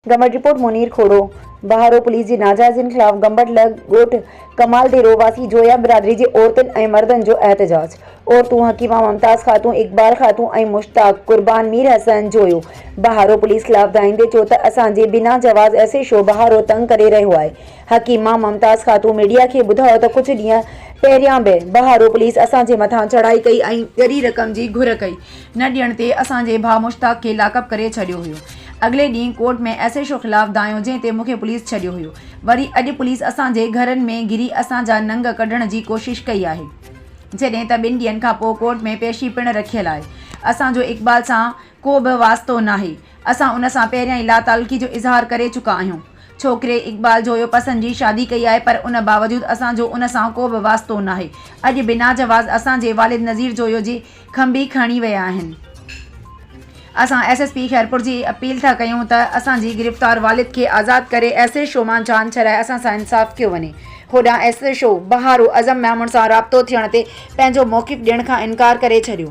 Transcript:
Gambat report Munir Khoro Baharo police جي ناجائزين خلاف گمبٽ لڳ ڳوٺ ڪمال ديرو واسي جويا برادري جي عورتن ۽ مردن جو احتجاج عورتون حڪيما ممتاز خاتون اقبال خاتون ۽ مشتاق قربان مير حسن جويو بهارو پوليس خلاف ڌائيندي چيو ته اسان جي بنا جواز ايس ايڇ او بهارو تنگ ڪري رهيو آهي حڪيما ممتاز خاتون ميڊيا کي ٻڌايو ته ڪجهه ڏينهن پهريان به بهارو پوليس اسان جي مٿان چڙهائي ڪئي ۽ ڳري رقم جي گهر ڪئي نه ڏيڻ تي اسان جي ڀاء مشتاق کي لاڪ اپ ڪري ڇڏيو هيو اڳلي ڏينهن ڪورٽ ۾ ايس ايڇ او خلاف دانهيو جنهن تي مونکي پوليس ڇڏيو هيو وري اڄ پوليس اسان جي گهرن ۾ گهري اسان جا ننگ ڪڍڻ جي ڪوشش ڪئي آهي جڏهن ته ٻن ڏينهن کان پوء ڪورٽ ۾ پيشي پڻ رکيل آهي اسان جو اقبال سان ڪو به واسطو ناهي اسان ان سان پهريان ئي لاتعلقي جو اظهار ڪري چڪا آهيون ڇوڪري اقبال جويو پسند جي شادي ڪئي آهي پر ان باوجود اسان جو ان سان ڪو به واسطو ناهي اڄ بناجواز اسان جي والد نذير جويو جي کنڀي کڻي ويا آهن اسان ايس ايس پي خيرپور جي اپيل ٿا ڪيون ته اسان جي گرفتار والد کي آزاد ڪري ايس ايڇ او مان جان ڇڏائي اسان سان انصاف ڪيو وڃي هوڏانهن S H O Baharo Azam Memon سان رابطو ٿيڻ تي پنهنجو موقف ڏيڻ کان انڪار ڪري ڇڏيو